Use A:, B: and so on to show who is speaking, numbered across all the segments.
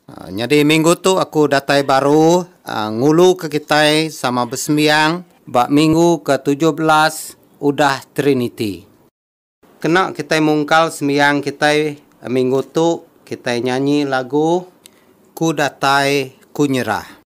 A: Nyadi minggu tu aku datai baru nguluka kitai sama besembiang ba minggu ke tujuh belas udah Triniti. Kena kitai mungkal sembiang kitai minggu tu, kitai nyanyi lagu Ku Datai Ku Nyerah.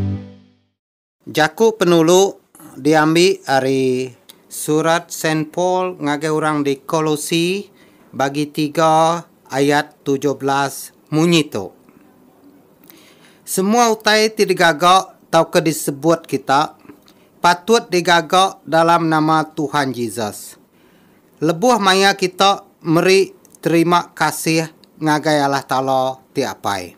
A: Jaku penulu diambi ari Surat Saint Paul ngagai orang di Kolosi bagi tiga ayat tujuh belas munyi tu, Semua utai ti digaga tauka disebut kita, patut digaga dalam nama Tuhan Jesus, lebuh maya kita meri terima kasih ngagai Allah Taala ti Apai.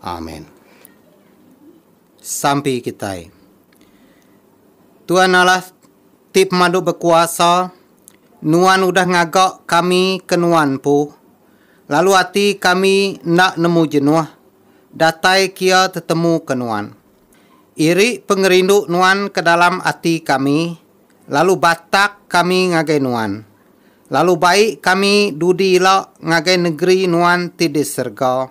A: Amen. Sampi kitai. Tuan Allah ti pemadu bekuasa, Nuan udah ngaga kami ke Nuan empu, lalu ati kami enda nemu jenuh datai kia tetemu ke Nuan. Iri pengerindu Nuan ke dalam ati kami, lalu batak kami ngagai Nuan. Lalu baik kami dudi ila ngagai negeri Nuan ti di serega.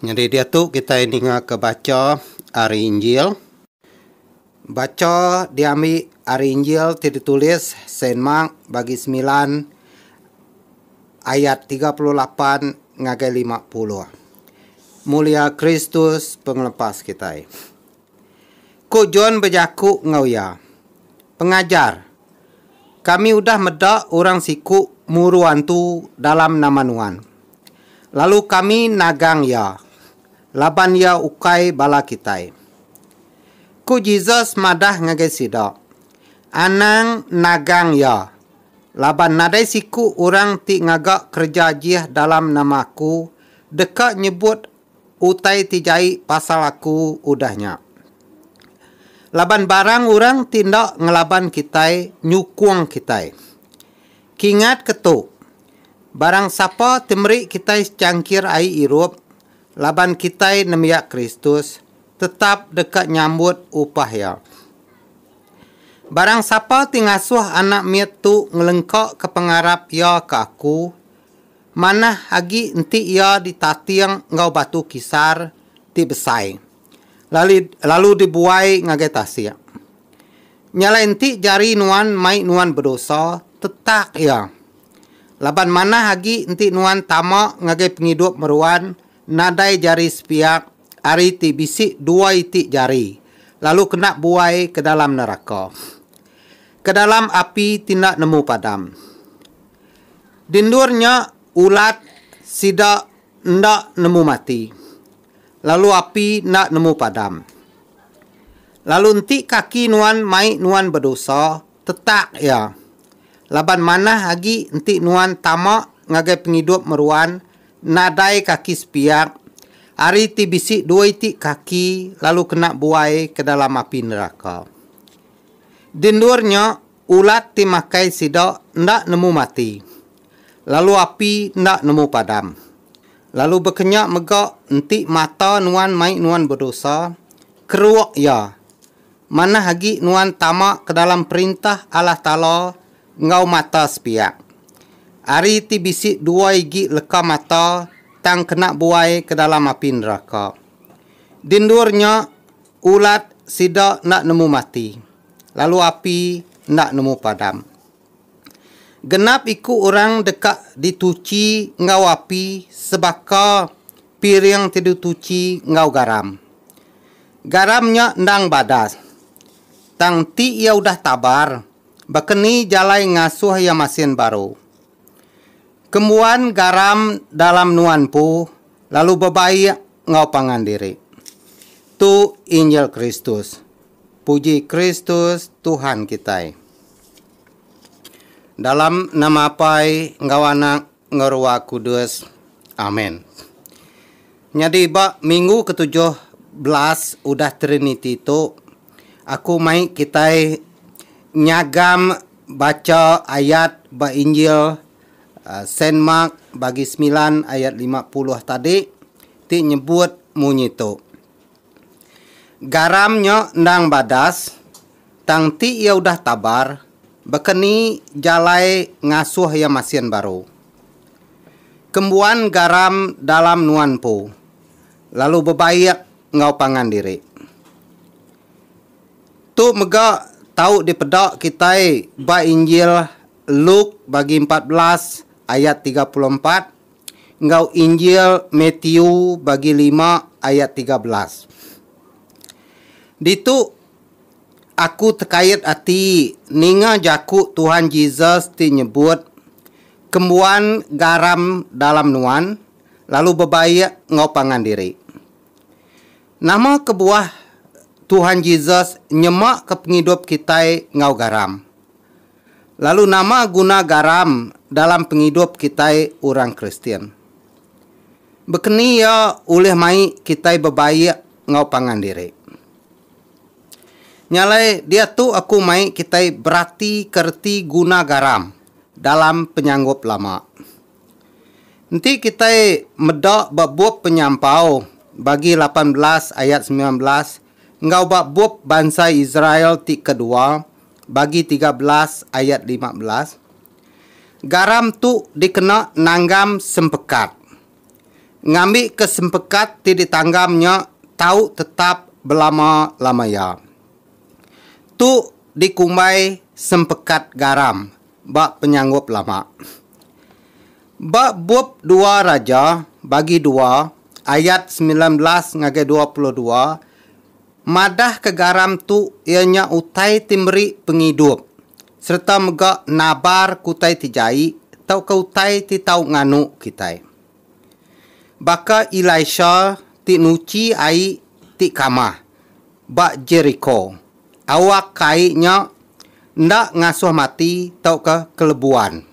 A: Nyadi diatu kitai ningaka bacha ari Injil. Bacha diambi ari Injil ti ditulis Saint Mark bagi semilan ayat tiga puluh lapan ngagai lima puluh. Mulia Kristus pengelepas kitai. Ku John bejaku enggau iya, Pengajar, kami udah meda orang siku muru antu dalam nama nuan. Lalu kami nagang iya, laban iya ukai bala kitai. Ku Jesus madah ngagai sida, Anang nagang iya, laban nadai siku orang ti ngaga kereja jih dalam nama aku deka nyebut utai ti jai pasal aku udah nya. Laban barang orang ti enda ngelaban kitai nyukung kitai. Kingatka tu, barang sapa ti meri kitai secangkir ai irup laban kitai nembiak Kristus tetap deka nyambut upah iya. Barang sapa ti ngasuh anak mit tu ngelengkaka pengarap iya ke aku, Manah agi enti iya ditating enggau batu kisar ti besai lalu lalu dibuai ngagai tasik. Nya alai enti jari nuan mai nuan bedosa, tetak iya. Laban manah agi enti nuan tama ngagai pengidup meruan nadai jari sepiak ari ti bisi dua iti jari lalu kena buai ke dalam neraka, ke dalam api ti enda nemu padam. Di endur nya ulat sida enda nemu mati, lalu api enda nemu padam. Lalu enti kaki nuan mai nuan bedosa, tetak iya. Laban manah agi enti nuan tama ngagai pengidup meruan nadai kaki sepiak, ari ti bisi dua iti kaki lalu kena buai ke dalam api neraka. Di endur nya Ulat ti makai sida enda nemu mati, lalu api enda nemu padam. Lalu bekenya mega enti mata nuan mai nuan bedosa, keruk iya. Manah agi nuan tama ke dalam Perintah Allah Taala enggau mata sepiak. Ari ti bisi dua igi leka mata tang kena buai ke dalam api neraka. Di endur nya, ulat sida enda nemu mati. lalu api enda nemu padam. Genap iku orang deka dituchi enggau api sebaka piring ti dituchi enggau garam. Garam nya endang badas, tang enti iya udah tabar, baka ni jalai ngasuh iya masin baru. Kembuan garam dalam nuan empu lalu bebaik enggau pangan diri. Tu injil Kristus. Puji Kristus Tuhan kitai. Dalam nama Apai enggau Anak enggau Ruah Kudus. Amen. Nyadi ba minggu ke tujuh belas udah Triniti tu, aku mai kitai nyagam bacha ayat ba Injil uh, Saint Mark bagi semilan ayat lima puluh tadi ti nyebut munyi tu. Garam nya endang badas, tang ti iya udah tabar, baka ni jalai ngasuh iya masin baru. Kembuan garam dalam nuan empu, lalu bebaik enggau pangan diri. Tu mega tau dipeda kitai ba Injil Luke bagi empat belas ayat tiga puluh empat, enggau Injil Mathew bagi lima ayat tiga belas. Ditu aku tekait ati ninga jaku Tuhan Jesus ti nyebut kembuan garam dalam nuan lalu bebaik enggau pangan diri. Nama kebuah Tuhan Jesus nyemaka pengidup kitai enggau garam? Lalu nama guna garam dalam pengidup kitai orang Kristian? Bekeni iya ulih mai kitai bebaik enggau pangan diri? Nya alai diatu aku mai kitai beratika reti guna garam dalam penyanggup lama. Enti kitai meda ba bup Penyampau bagi lapan belas ayat semilan belas, Enggau ba bup bansa Israel ti kedua, Bagi tiga belas ayat lima belas, garam tu dikena nanggam sempekat. Ngambika sempekat ti ditanggam nya tau tetap belama lama iya. Tu dikumbai sempekat garam ba penyanggup lama. Ba bup dua Raja bagi dua ayat semilan belas ngagai dua puluh dua madahka garam tu iya nya utai ti meri pengidup sereta mega nabarka utai ti jai tauka utai ti tau nganu kitai. Baka Elisha ti nuchi ai ti kamah ba Jeriko. Awak kai nya enda ngasuh mati tauka kelebuan.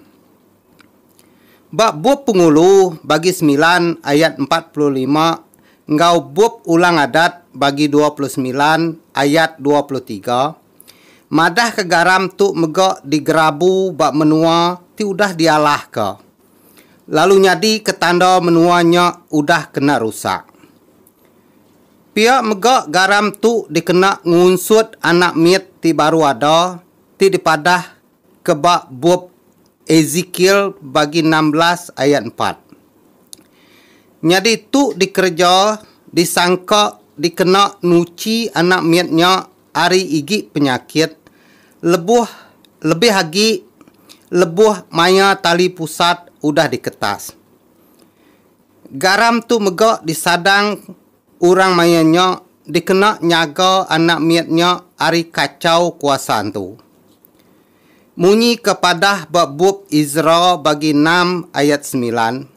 A: Ba Bup Pengulu Bagi Semilan ayat empat puluh lima enggau Bup Ulang Adat Bagi dua puluh semilan ayat dua puluh tiga madahka garam tu mega digerabu ba menua ti udah dialahka lalu nyadika tanda menua nya udah kena rusak. Pia mega garam tu dikena ngunsut anak mit ti baru ada ti dipadah ke ba bup Ezekiel bagi enam belas ayat empat. Nyadi tu dikereja disangka dikena nuchi anak mit nya ari igi penyakit lebuh lebih agi lebuh maya tali pusat udah diketas. Garam tu mega disadang orang maya nya dikena nyaga anak mit nya ari kachau kuasa antu. Munyi ke padah ba bup Ezra bagi enam ayat semilan,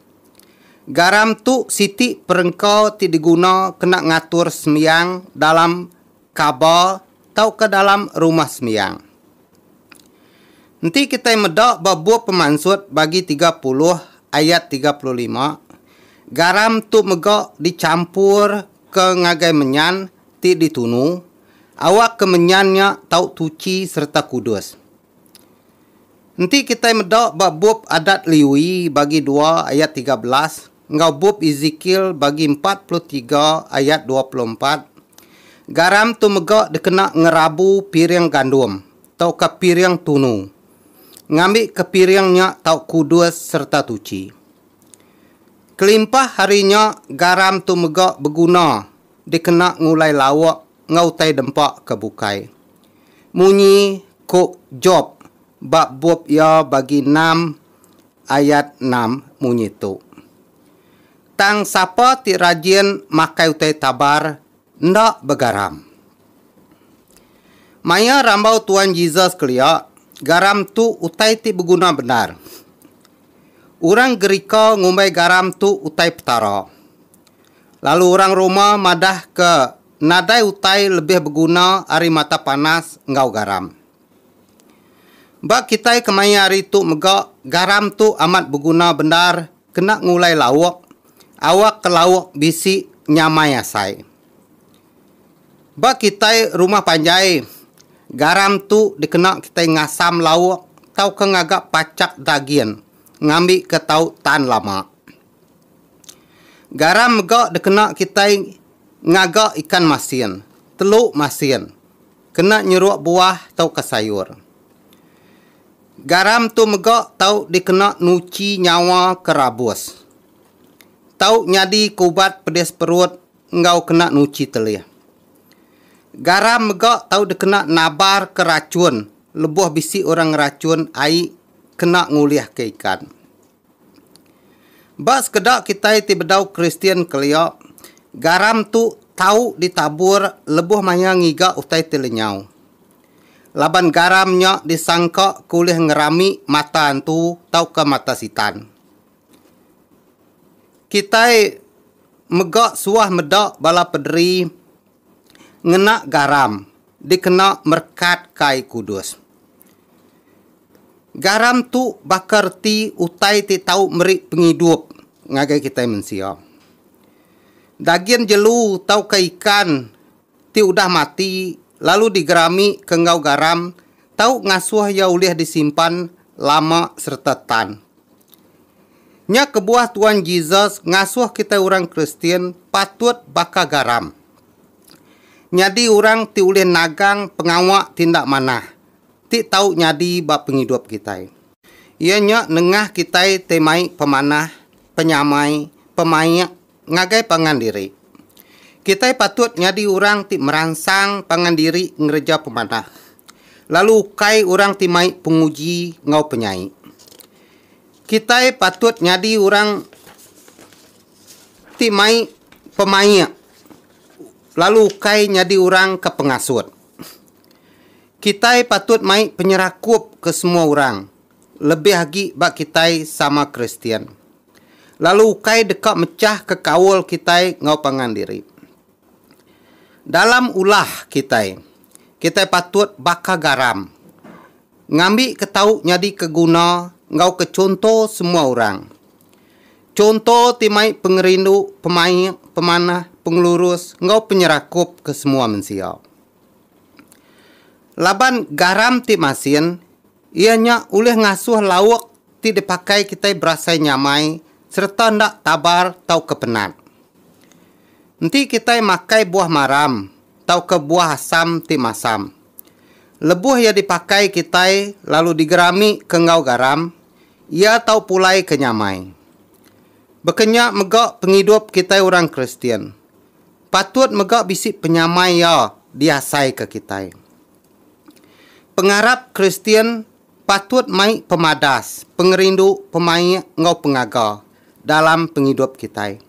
A: Garam tu siti perengka ti diguna kena ngatur sembiang dalam kaba tauka dalam Rumah Sembiang. Enti kitai meda ba bup Pemansut bagi tiga puluh ayat tiga puluh lima, garam tu mega dichampur ka ngagai menyan ti ditunu awak ka menyan nya tau tuchi sereta kudus. Enti kitai meda ba bup Adat Lewi bagi dua ayat tiga belas, enggau bup Ezekiel bagi empat puluh tiga ayat dua puluh empat, garam tu mega dikena ngerabu piring gandum tauka piring tunu, ngambika piring nya tau kudus sereta tuchi. Kelimpah ari nya, garam tu mega beguna dikena ngulai lauk enggau utai dempa ke bukai. Munyi ku Job ba bup iya bagi enam Ayat enam munyi tu, Tang sapa ti rajin makai utai tabar enda begaram. Maya rambau Tuan Jesus kelia, garam tu utai ti beguna bendar. Orang Gerika ngumbai garam tu utai Petara. Lalu orang Roma madahka nadai utai lebih beguna ari mata panas enggau garam. Ba kitai kemaya hari tu mega garam tu amat beguna bendar kena ngulai lauk, awak ke lauk bisi nyamai asai. Ba kitai rumah panjai garam tu dikena kitai ngasam lauk tauka ngaga pachak daging ngambi ke tau tan lama. Garam mega dikena kitai ngaga ikan masin, telu masin. Kena nyeruk buah tauka sayur. Garam tu mega tau dikena nuchi nyawa ke rabus. Tau nyadika ubat pedis perut enggau kena nuchi telih. Garam mega tau dikena nabarka rachun lebuh bisi orang ngerachun ai kena ngulihka ikan. Ba sekeda kitai ti bedau Kristian kelia, garam tu tau ditabur lebuh maya ngiga utai ti lenyau. Laban garam nya disangka ke ulih ngerami mata antu tauka mata sitan. Kitai mega suah meda bala pederi ngena garam. dikena merekat kai kudus. Garam tu baka reti utai ti tau meri pengidup ngagai kitai mensia. Dagin jelu tauka ikan ti udah mati lalu digerami ke enggau garam tau ngasuh iya ulih disimpan lama sereta tan. Nya kebuah Tuan Jesus ngasuh kitai orang Kristian patut baka garam. Nyadi orang ti ulih nagang pengawa ti enda manah ti tau nyadi ba pengidup kitai. Iya nya nengah kitai ti mai pemanah, penyamai, pemaik ngagai pangan diri. Kitai patut nyadi orang ti meransang pangan diri ngereja pemanah, lalu ukai orang ti mai penguji enggau penyai. Kitai patut nyadi orang. Ti mai pemaik lalu ukai nyadi orang ke pengasut. Kitai patut mai penyerakup ke semua orang, lebih agi ba kitai sama Kristian, lalu ukai deka mechahka kaul kitai enggau pangan diri. Dalam ulah kitai, kitai patut baka garam, ngambika tau nyadika guna enggau ke chunto semua orang. Chunto ti mai pengerindu, pemaik, pemanah, pengelurus enggau penyerakup ke semua mensia. Laban garam ti masin, iya nya ulih ngasuh lauk ti dipakai kitai berasai nyamai sereta enda tabar tauka penat. Enti kitai makai buah maram tauka buah asam ti masam, lebuh iya dipakai kitai lalu digerami ke enggau garam, Iya tau pulai ke nyamai. Baka nya mega pengidup kitai orang Kristian, patut mega bisi penyamai iya diasaika kitai. Pengarap Kristian patut mai pemadas, pengerindu, pemaik enggau pengaga dalam pengidup kitai.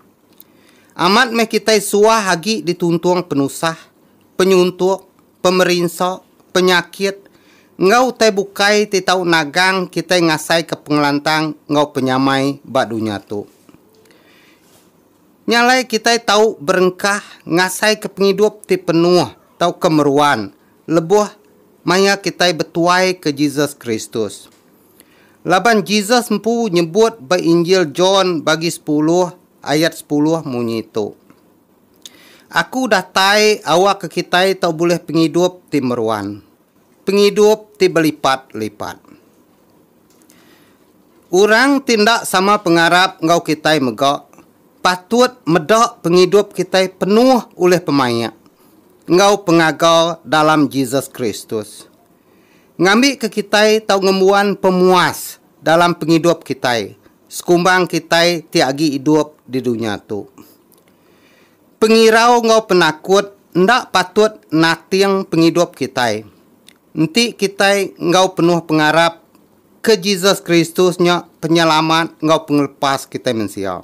A: Amat meh kitai suah agi dituntung penusah, penyuntuk, pemerinsa, penyakit, enggau utai bukai ti tau nagang kitai ngasaika pengelantang enggau penyamai ba dunya tu. Nya alai kitai tau berengkah ngasaika pengidup ti penuh tauka meruan lebuh maya kitai betuaika Jesus Kristus. Laban Jesus empu nyebut ba Injil John bagi sepuluh ayat sepuluh munyi tu, Aku datai awakka kitai tau bulih pengidup ti meruan, pengidup ti belipat-lipat. Orang ti enda sama pengarap enggau kitai mega patut meda pengidup kitai penuh ulih pemaik enggau pengaga dalam Jesus Kristus. Ngambika kitai tau ngembuan pemuas dalam pengidup kitai sekumbang kitai ti agi idup di dunya tu. Pengirau enggau penakut enda patut nating pengidup kitai. Enti kitai enggau penuh pengarap ke Jesus Kristus nya Penyelamat enggau Pengelepas kitai mensia,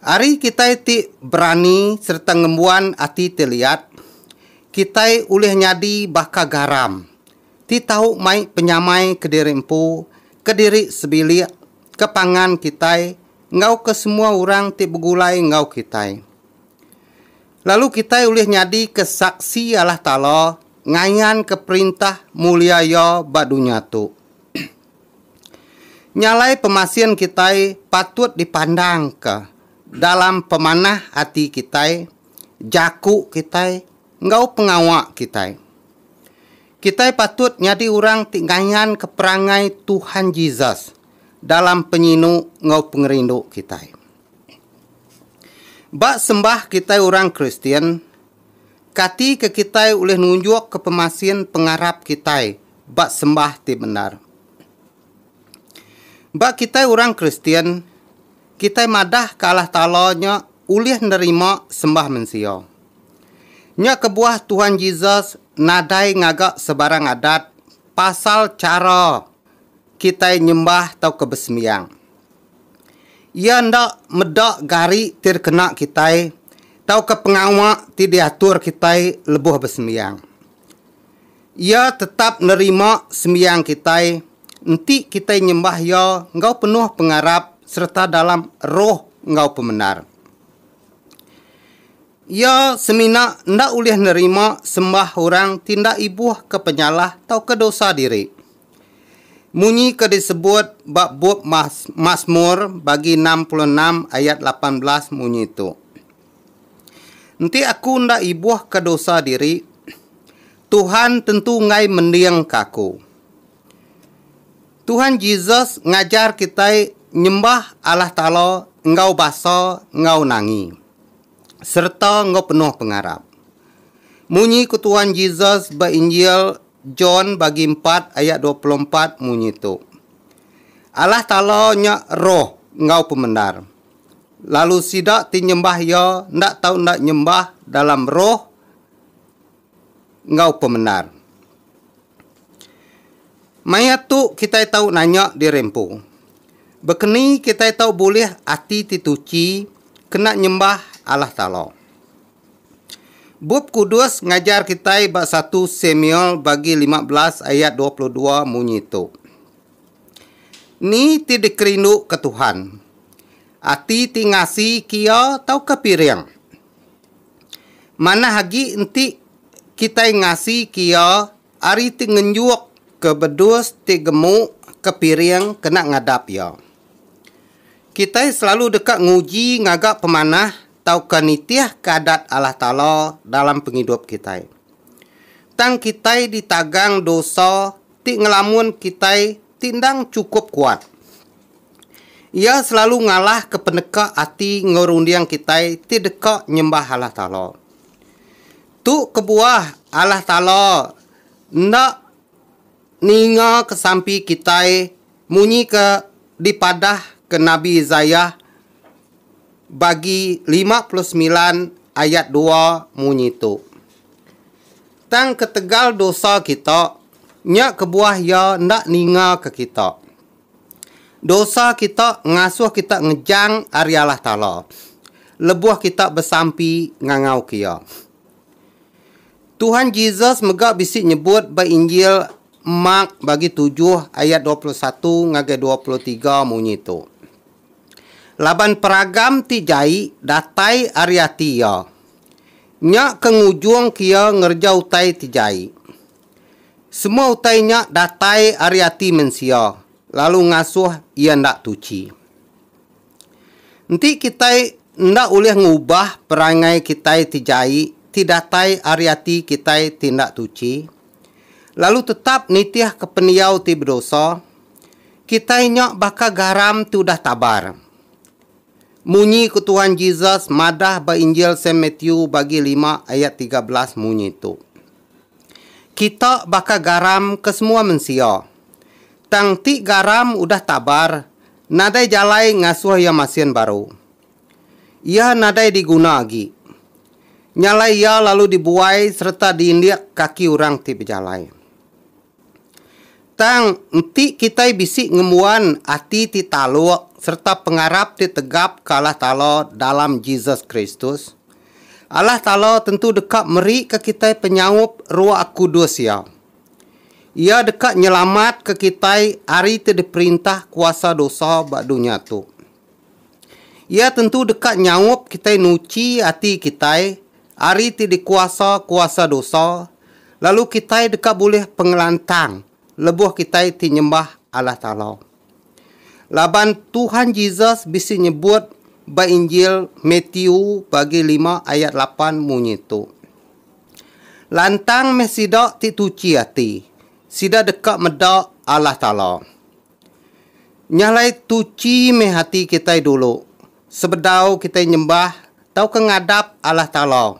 A: ari kitai ti berani sereta ngembuan ati ti liat, kitai ulih nyadi baka garam ti tau mai penyamai kediri empu, kediri sebilik ke pangan kitai enggau ke semua orang ti begulai enggau kitai. Lalu kitai ulih nyadika Saksi Allah Taala ngayanka perintah mulia Iya ba dunya tu. Nyalai pemasin kitai patut dipandangka dalam pemanah ati kitai, jaku kitai, enggau pengawa kitai. Kitai patut nyadi orang ti ngayanka perangai Tuhan Jesus dalam penyinu enggau pengerindu kitai. Ba sembah kitai orang Kristian, kati ke kitai ulih nunjukka pemasin pengarap kitai ba sembah ti bendar? Ba kitai orang Kristian, kitai madahka Allah Taala nya ulih nerima sembah mensia. Nya kebuah Tuhan Jesus nadai ngaga sebarang adat pasal chara kitai nyembah tauka besembiang. Iya enda meda gari ti dikena kitai tauka pengawa ti diatur kitai lebuh besembiang. Iya tetap nerima sembiang kitai enti kitai nyembah Iya enggau penuh pengarap sereta dalam roh enggau pemendar. Iya semina enda ulih nerima sembah orang ti enda ibuhka penyalah tauka dosa diri. Munyi ke disebut ba bup Masmur bagi enam puluh enam ayat lapan belas munyi tu. Enti aku enda ibuhka dosa diri, Tuhan tentu enggai mendingka aku. Tuhan Jesus ngajar kitai nyembah Allah Taala enggau basa enggau nangi, sereta enggau penuh pengarap. Munyi ku Tuhan Jesus ba Injil John bagi empat ayat dua puluh empat munyi tu, Allah Taala nya roh enggau pemendar. lalu sida ti nyembah iya enda tau enda nyembah dalam roh enggau pemendar. Maya tu kitai tau nanya diri empu, Bekeni kitai tau bulih ati ti tuchi kena nyembah Allah Taala? Bup Kudus ngajar kitai ba satu Samuel bagi lima belas ayat dua puluh dua munyi tu, Ni ti dikerinduka Tuhan? Ati ti ngasi kia tauka piring? Manah agi enti kitai ngasi kia ari ti ngenjukka bedus ti gemuka piring kena ngadap iya. Kitai selalu deka nguji ngaga pemanah tauka nitihka Adat Allah Taala dalam pengidup kitai. Tang kitai ditagang dosa ti ngelamun kitai ti endang chukup kuat. Iya selalu ngalahka peneka ati enggau runding kitai ti deka nyembah Allah Taala. Tu kebuah Allah Taala enda ningaka sampi kitai munyi ke dipadahka Nabi Isaiah bagi lima puluh semilan ayat dua munyi tu, Tang ketegal dosa kita, nya kebuah Iya enda ningaka kita. Dosa kita ngasuh kita ngejang ari Allah Taala, lebuh kita besampi ngangauka Iya. Tuhan Jesus mega bisi nyebut ba Injil Mark bagi tujuh ayat dua puluh satu ngagai dua puluh tiga munyi tu, Laban peragam ti jai datai ari ati iya. Nya ke ngujungka iya ngereja utai ti jai. Semua utai nya datai ari ati mensia lalu ngasuh iya enda tuchi. Enti kitai enda ulih ngubah perangai kitai ti jai ti datai ari ati kitai ti enda tuchi, lalu tetap nitihka pendiau ti bedosa, Kitai nya baka garam ti udah tabar. Munyi ku Tuhan Jesus madah ba Injil Saint Matthew bagi lima ayat tiga belas munyi tu, Kita baka garam ke semua mensia. Tang ti garam udah tabar, nadai jalai ngasuh iya masin baru. Iya nadai diguna agi. Nyalai iya lalu dibuai sereta diindik kaki orang ti bejalai. Tang, enti kitai bisi ngembuan ati ti taluk sereta pengarap ti tegap ke Allah Taala dalam Jesus Kristus, Allah Taala tentu deka merika kitai penyaup Roh Kudus Iya. Iya deka nyelamatka kitai ari ti diperintah kuasa dosa ba dunya tu. Iya tentu deka nyaup kitai nuchi ati kitai ari ti dikuasa kuasa dosa, lalu kitai deka bulih pengelantang lebuh kitai ti nyembah Allah Taala. Laban Tuhan Jesus bisi nyebut ba Injil Matthew bagi lima ayat lapan munyi tu, Lantang meh sida ti tuchi ati, sida deka meda Allah Taala. Nya alai tuchi meh ati kitai dulu sebedau kitai nyembah tauka ngadap Allah Taala.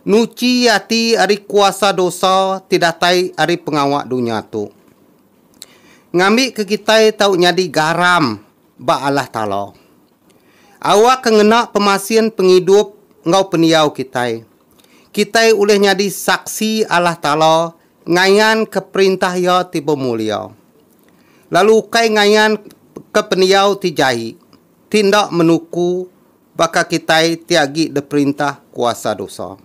A: Nuchi ati ari kuasa dosa ti datai ari pengawa dunya tu. Ngambika kitai tau nyadi garam ba Allah Taala. Awa ke ngena pemasin pengidup enggau pendiau kitai, kitai ulih nyadi saksi Allah Taala ngayanka perintah Iya ti bemulia, lalu ukai ngayanka pendiau ti jai ti enda menuku baka kitai ti agi diperintah kuasa dosa.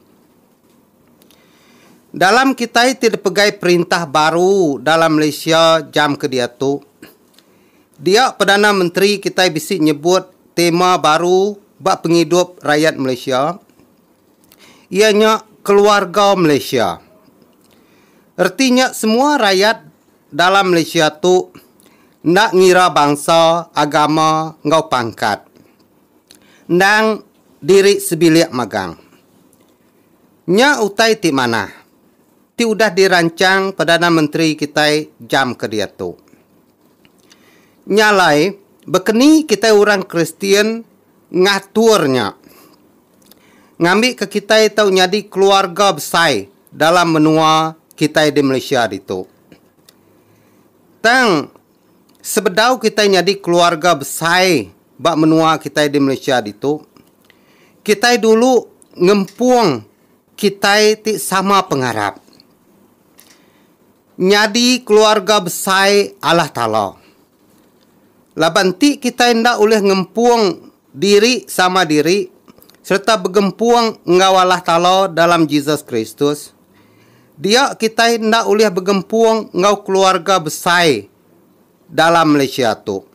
A: Dalam kitai ti dipegai perintah baru dalam Malaysia jam ke diatu, dia Perdana Menteri kitai bisi nyebut tema baru ba pengidup rayat Malaysia, Iya nya keluarga Malaysia. Reti nya semua rayat dalam Malaysia tu enda ngira bangsa, agama enggau pangkat. Endang diri sebilik magang. Nya utai ti manah, ti udah diransang Perdana Menteri kitai jam ke diatu. Nya alai, baka ni kitai orang Kristian ngatur nya ngambika kitai tau nyadi keluarga besai dalam menua kitai di Malaysia ditu. Tang sebedau kitai nyadi keluarga besai ba menua kitai di Malaysia ditu, kitai dulu ngempung kitai ti sama pengarap. nyadi keluarga besai Allah Taala. Laban enti kitai enda ulih ngempung diri sama diri sereta begempung enggau Allah Taala dalam Jesus Kristus, dia kitai enda ulih begempung enggau keluarga besai dalam Malaysia tu.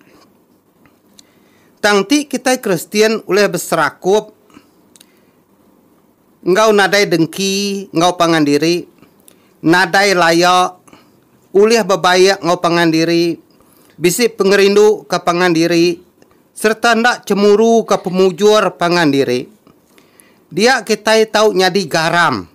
A: Tang enti kitai Kristian ulih beserakup, enggau nadai dengki enggau pangan diri, nadai laya, ulih bebaik enggau pangan diri, bisi pengerindu ke pangan diri sereta enda cemuru ke pemujur pangan diri. Dia kitai tau nyadi garam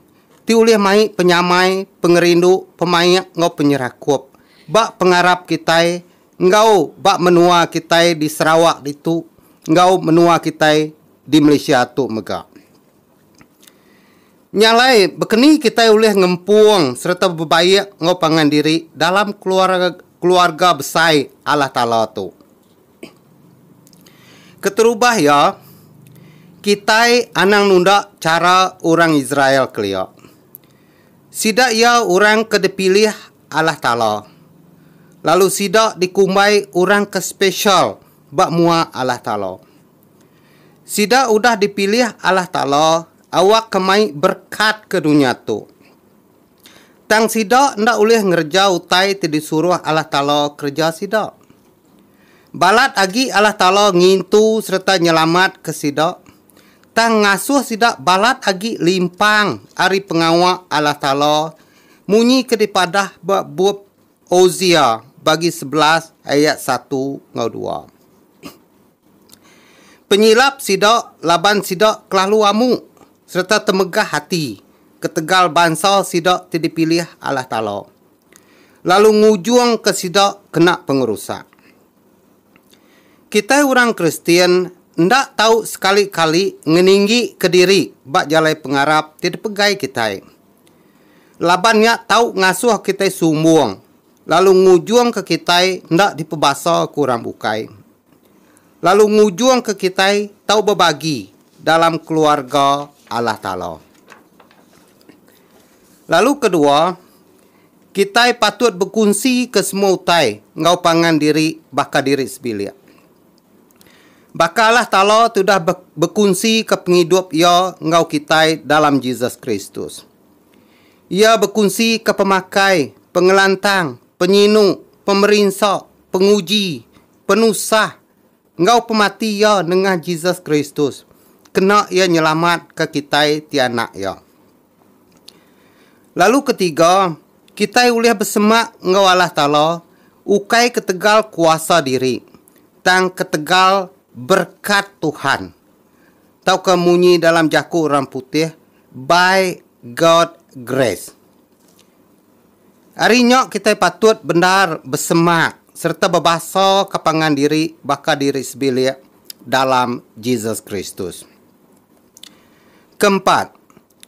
A: ti ulih mai penyamai, pengerindu, pemaik enggau penyerakup ba pengarap kitai enggau ba menua kitai di Sarawak ditu enggau menua kitai di Malaysia tu mega. Nya alai, bekeni kitai ulih ngempung sereta bebaik enggau pangan diri dalam keluarga besai Allah Taala tu? Keterubah iya, kitai anang nunda chara orang Israel kelia. Sida iya orang ke dipilih Allah Taala, lalu sida dikumbai orang ke spesial ba mua Allah Taala. Sida udah dipilih Allah Taala awakka mai berkat ke dunya tu. Tang sida enda ulih ngereja utai ti disuruh Allah Taala kereja sida. Balat agi Allah Taala ngintu sereta nyelamatka sida, tang ngasuh sida balat agi limpang ari pengawa Allah Taala munyi ke dipadah ba Bup Hosea bagi sebelas ayat satu enggau dua. Penyilap sida laban sida kelalu amu sereta temegah ati ketegal bansa sida ti dipilih Allah Taala, lalu ngujungka sida kena pengerusak. Kitai orang Kristian enda tau sekali-kali ngeninggika diri ba jalai pengarap ti dipegai kitai. Laban nya tau ngasuh kitai sumbung lalu ngujungka kitai enda dipebasaka orang bukai. Lalu ngujungka kitai tau bebagi dalam keluarga Allah Taala. Lalu kedua, Kitai patut bekunsika semua utai enggau pangan diri baka diri sebilik. Bakalah Talo tudah bekunsika pengidup Iya enggau kitai dalam Jesus Kristus. Iya bekunsika pemakai, pengelantang, penyinu, pemerinsa, penguji, penusah, enggau pemati Iya nengah Jesus Kristus kena Iya nyelamatka kitai ti anak Iya. Lalu ke tiga, kitai ulih besemak enggau Allah Taala ukai ketegal kuasa diri, tang ketegal berkat Tuhan. Tauka munyi dalam jaku orang putih, By God Grace. Ari nya kitai patut bendar besemak sereta bebasa ke pangan diri baka diri sebilik dalam Jesus Kristus. Keempat,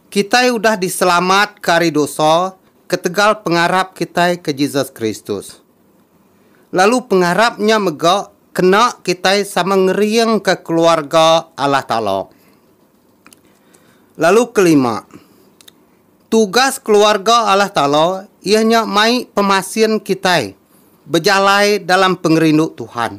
A: kitai udah diselamatka ari dosa ketegal pengarap kitai ke Jesus Kristus. Lalu pengarap nya mega kena kitai sama ngeringka keluarga Allah Taala. Lalu kelima, tugas keluarga Allah Taala iya nya mai pemasin kitai bejalai dalam pengerindu Tuhan.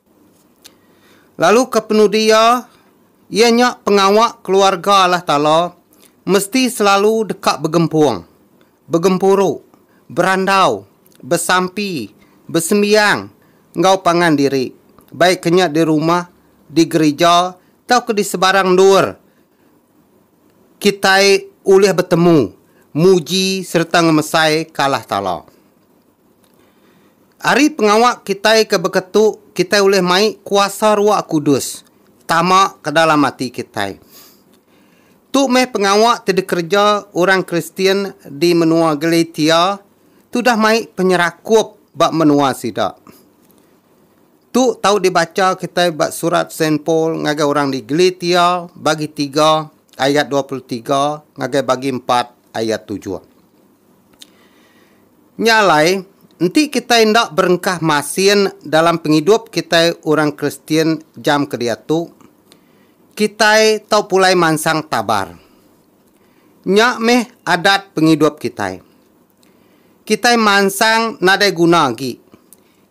A: Lalu ke penudi iya, iya nya pengawa keluarga Allah Taala mesti selalu deka begempung, begempuru, berandau, besampi, besembiang enggau pangan diri, baik ke nya di rumah, di gerija tauka di sebarang endur kitai ulih betemu, muji sereta ngemesaika Allah Taala. Ari pengawa kitai ke beketu, kitai ulih mai kuasa Roh Kudus tama ke dalam ati kitai. Tu meh pengawa ti dikereja orang Kristian di menua Galatia ti udah mai penyerakup ba menua sida. Tu tau dibacha kitai ba surat Saint Paul ngagai orang di Galatia bagi tiga ayat dua puluh tiga ngagai bagi empat ayat tujuh. Nya alai, enti kitai enda berengkah masin dalam pengidup kitai orang Kristian jam ke diatu, kitai tau pulai mansang tabar. Nya meh adat pengidup kitai. Kitai mansang nadai guna agi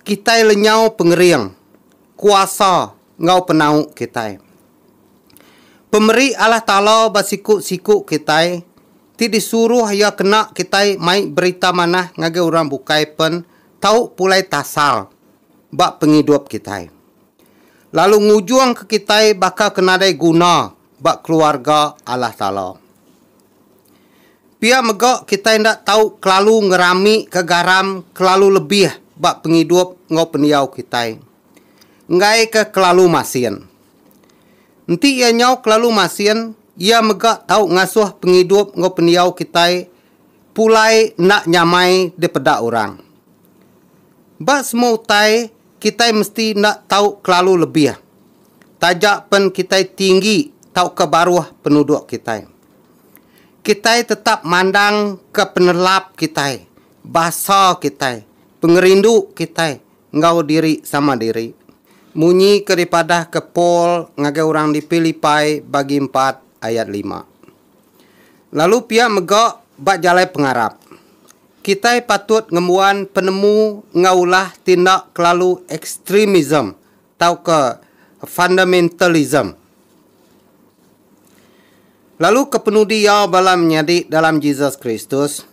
A: kitai lenyau pengering, kuasa enggau penau kitai. Pemeri Allah Taala ba siku-siku kitai. ti disuruh iya kena kitai mai berita manah ngagai orang bukai pen tau pulai tasal ba pengidup kitai, lalu ngujungka kitai baka ke nadai guna ba keluarga Allah Taala. Pia mega kitai enda tau kelalu ngeramika garam kelalu lebih ba pengidup enggau pendiau kitai, enggaika kelalu masin. Enti iya nyau kelalu masin, iya mega tau ngasuh pengidup enggau pendiau kitai pulai enda nyamai dipeda orang. Ba semua utai, kitai mesti enda tau kelalu lebih, taja pen kitai tinggi tauka baruh penuduk kitai. Kitai tetap mandangka penelap kitai, basa kitai, pengerindu kitai, enggau diri sama diri. Munyi ke dipadahka Paul ngagai orang di Pilipai bagi empat ayat lima. Lalu pia mega ba jalai pengarap. Kitai patut ngembuan penemu enggau ulah ti enda kelalu ekstremism tauka fundamentalism. Lalu kepenudi iya bala menyadi dalam Jesus Kristus?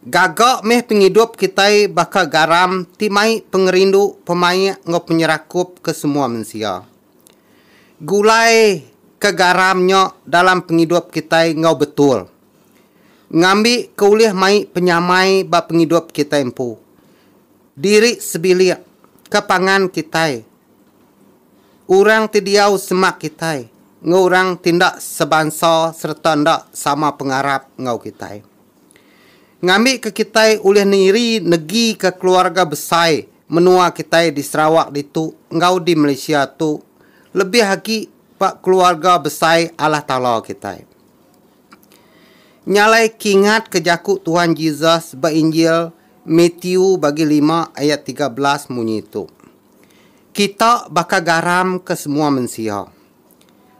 A: Gaga meh pengidup kitai baka garam ti mai pengerindu pemaik enggau penyerakup ke semua mensia. Gulai ke garam nya dalam pengidup kitai enggau betul ngambi ke ulih mai penyamai ba pengidup kitai empu diri sebilik ke pangan kitai. Orang ti diau semak kitai enggau orang ti enda sebansa sereta enda sama pengarap enggau kitai. Ngambika kitai ulih niri negika keluarga besai menua kitai di Sarawak ditu enggau di Malaysia tu lebih agi ba keluarga besai Allah Taala kitai. Nya alai kingatka jaku Tuhan Jesus ba Injil Matthew bagi lima ayat tiga belas munyi tu. Kita baka garam ke semua mensia.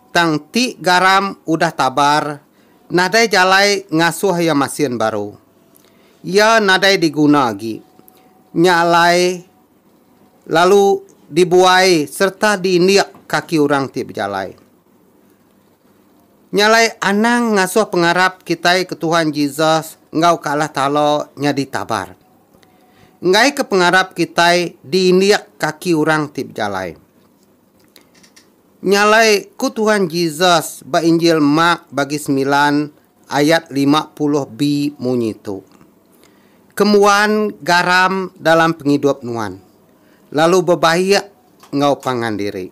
A: Tang ti garam udah tabar nadai jalai ngasuh iya masin baru. Iya nadai diguna agi. Nya alai lalu dibuai sereta diindik kaki orang ti bejalai. Nya alai anang ngasuh pengarap kitai ke Tuhan Jesus enggau ke Allah Taala nyadi tabar. Enggaika pengarap kitai diindik kaki orang ti bejalai. Nya alai ku Tuhan Jesus ba Injil Mark bagi semilan ayat lima puluh B munyi tu, Kemuan garam dalam pengidup nuan, lalu bebaik enggau pangan diri.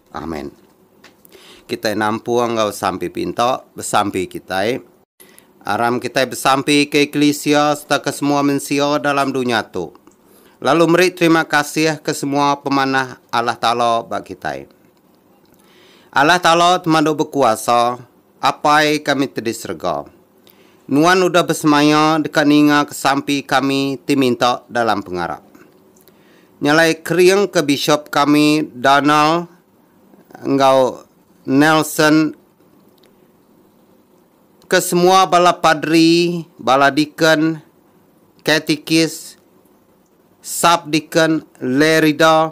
A: Amen. Kitai nampung enggau sampi pinta besampi kitai. Aram kitai besampi ke eklisia sereta ke semua mensia dalam dunya tu, lalu meri terima kasih ke semua pemanah Allah Taala ba kitai. Allah Taala temadu bekuasa, Apai kami te di serega. Nuan udah besemaya deka ninga kesampi kami ti minta dalam pengarap. Nya alai kering ke bishop kami Donald enggau Nelson ke semua bala padri, bala deacon, katikis, sub-deacon, lay reader,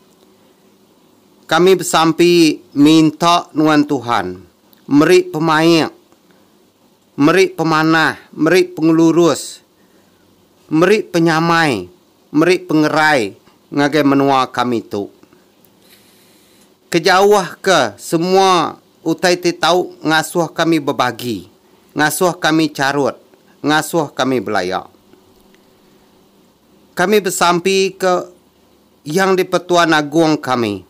A: Kami besampi minta nuan Tuhan meri pemaik, meri pemanah, meri pengelurus, meri penyamai, meri pengerai ngagai menua kami tu. Kejauhka semua utai ti tau ngasuh kami bebagi, ngasuh kami charut, ngasuh kami belaya. Kami besampi ke. Yang di-Pertuan Agong kami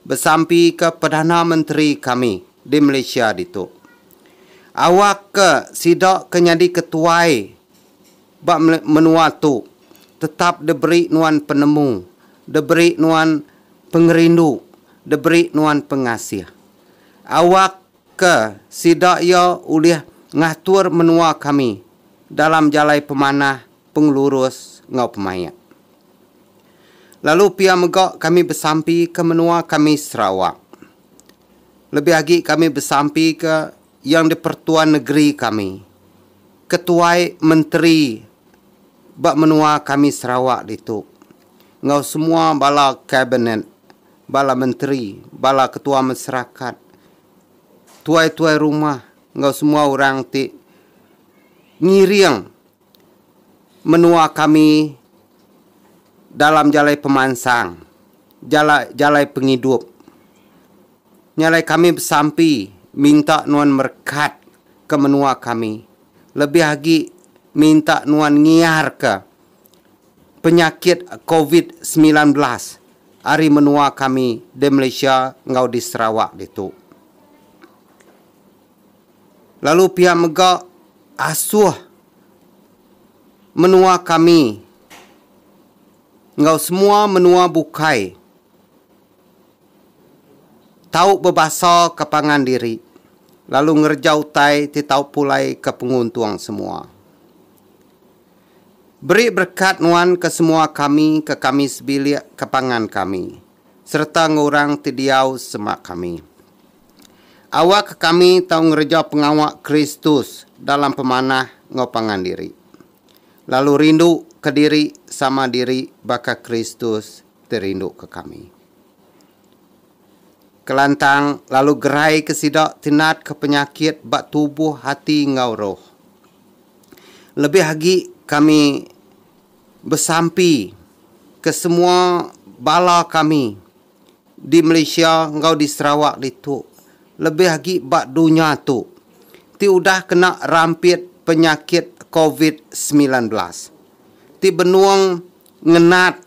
A: besampika Perdana Menteri kami di Malaysia ditu, awak ke sida ke nyadi ketuai ba menua tu tetap diberi nuan penemu, diberi nuan pengerindu, diberi nuan pengasih. Awak ke sida iya ulih ngatur menua kami dalam jalai pemanah pengelurus enggau pemaik. Lalu pia mega kami besampi ke menua kami Sarawak. Lebih agi kami besampi ke Yang di-Pertuan Negeri kami, ketuai menteri ba menua kami Sarawak ditu enggau semua bala kabinet, bala menteri, bala ketua masyarakat, tuai-tuai rumah enggau semua orang ti ngiring. menua kami dalam jalai pemansang, jala jalai pengidup. Nya alai kami besampi minta nuan merekat ke menua kami lebih agi minta nuan ngiarka penyakit covid semilan belas ari menua kami di Malaysia enggau di Sarawak ditu. lalu pia mega asuh menua kami enggau semua menua bukai tau bebasaka pangan diri lalu ngereja utai ti tau pulai ke penguntung semua. Beri berekat nuan ke semua kami ke kami sebilik ke pangan kami sereta enggau orang ti diau sema kami. Awakka kami tau ngereja pengawa Kristus dalam pemanah enggau pangan diri, lalu rinduka diri sama diri baka Kristus ti rinduka kami. Kelantang lalu geraika sida ti natka penyakit ba tubuh, ati enggau roh. Lebih agi kami besampi ke semua bala kami di Malaysia enggau di Sarawak ditu lebih agi ba dunya tu ti udah kena rampit penyakit covid semilan belas ti benung ngenat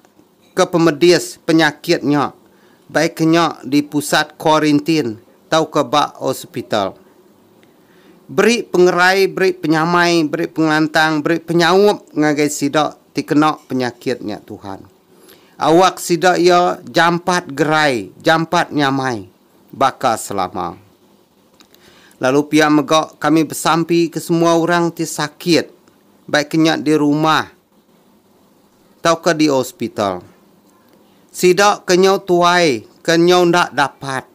A: ke pemedis penyakit nya baik ke nya di pusat kuarintin tauka ba hospital beri pengerai beri penyamai beri pengelantang beri penyaup ngagai sida ti kena penyakit nya Tuhan. Awak sida iya jampat gerai, jampat nyamai baka selama. Lalu pia mega kami besampi ke semua orang ti sakit, baik ke nya di rumah tauka di hospital. Sida ke nyau tuai, ke nyau enda dapat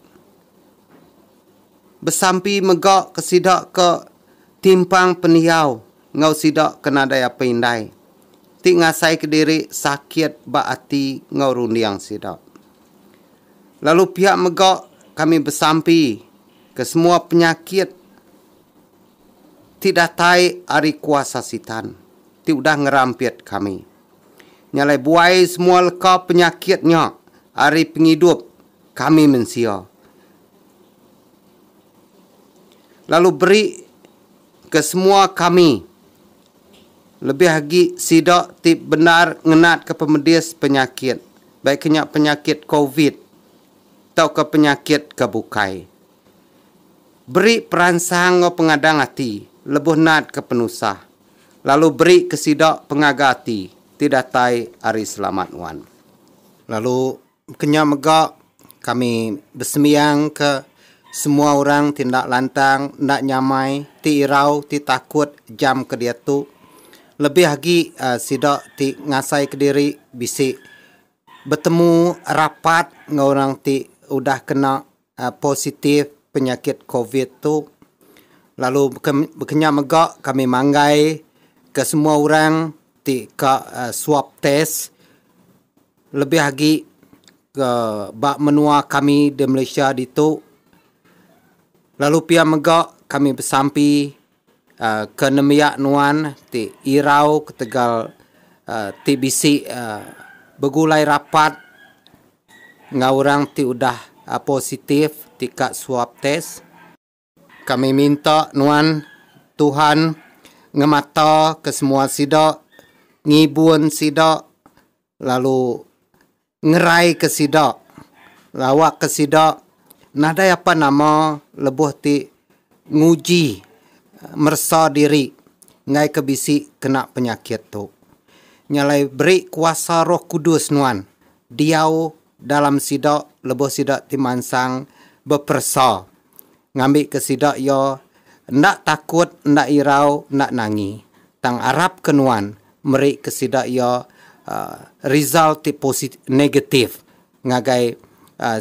A: besampi mega ke sida ke timpang pendiau enggau sida ke nadai apai indai. ti ngasaika diri sakit ba ati enggau runding sida. Lalu pia mega kami besampi ke semua penyakit ti datai ari kuasa Sitan ti udah ngerampit kami. Nya alai buai semua leka penyakit nya ari pengidup kami mensia lalu beri ke semua kami. Lebih agi sida ti bendar ngenatka pemedis penyakit, baik ke nya penyakit covid tauka penyakit ke bukai. Beri peransang enggau pengadang ati lebuh natka penusah, lalu beri ke sida pengaga ati ti datai ari selamat nuan. Lalu Kenya mega kami besembiangka semua orang ti enda lantang, enda nyamai, ti irau, ti takut jam ke diatu. Lebih agi sida ti ngasai kediri bisi betemu rapat enggau orang ti udah kena. positif penyakit covid tu lalu kena mega kami manggai ke semua orang ti ka swab test lebih agi ke ba menua kami di Malaysia ditu lalu pia mega kami besampi. Ke nembiak nuan ti irau ketegal ti bisi begulai rapat enggau orang ti udah positif ti ka swab test? Kami minta nuan Tuhan ngemata kesemua sida, ngibun sida lalu ngeraika sida lalu awakka sida nadai apan nama lebuh ti nguji meresa diri enggaika bisi kena penyakit tu. Nya alai beri kuasa Roh Kudus nuan diau dalam sida lebuh sida ti mansang beperesa. ngambika sida iya enda takut, enda irau, enda nangi. Tang arapka nuan merika sida iya result ti posit negatif ngagai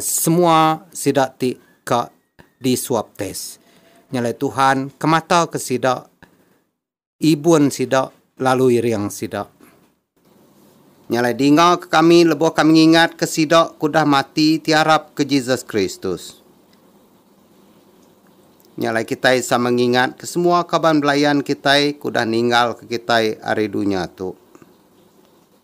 A: semua sida ti ka di swab test. Nyalai Tuhan kemataka sida. Ibun sida, lalu iring sida. Nya alai dingaka kami lebuh kami ngingatka sida ke udah mati ti arap ke Jesus Kristus. Nya alai kitai sama ngingatka semua kaban belayan kitai ke udah ninggalka kitai ari dunya tu.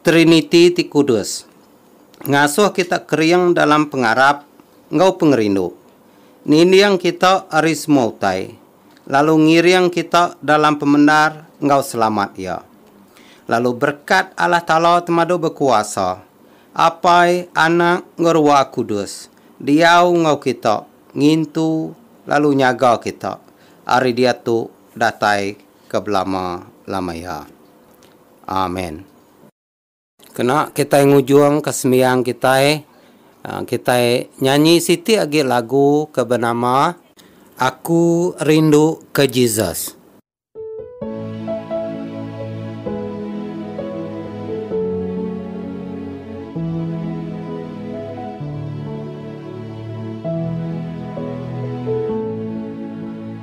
A: Triniti ti kudus ngasuh kita kering dalam pengarap enggau pengerindu, ninding kita ari semua utai, lalu ngiring kita dalam pemendar enggau selamat Iya. Lalu berekat Allah Taala Temadu Bekuasa, Apai, Anak, enggau Ruah Kudus diau enggau kita ngintu lalu nyaga kita ari diatu datai ke belama-lama iya. Amen. Kena kitai ngujungka sembiang kitai, kitai nyanyi siti agi lagu ke benama. Aku Rindu ke Jesus.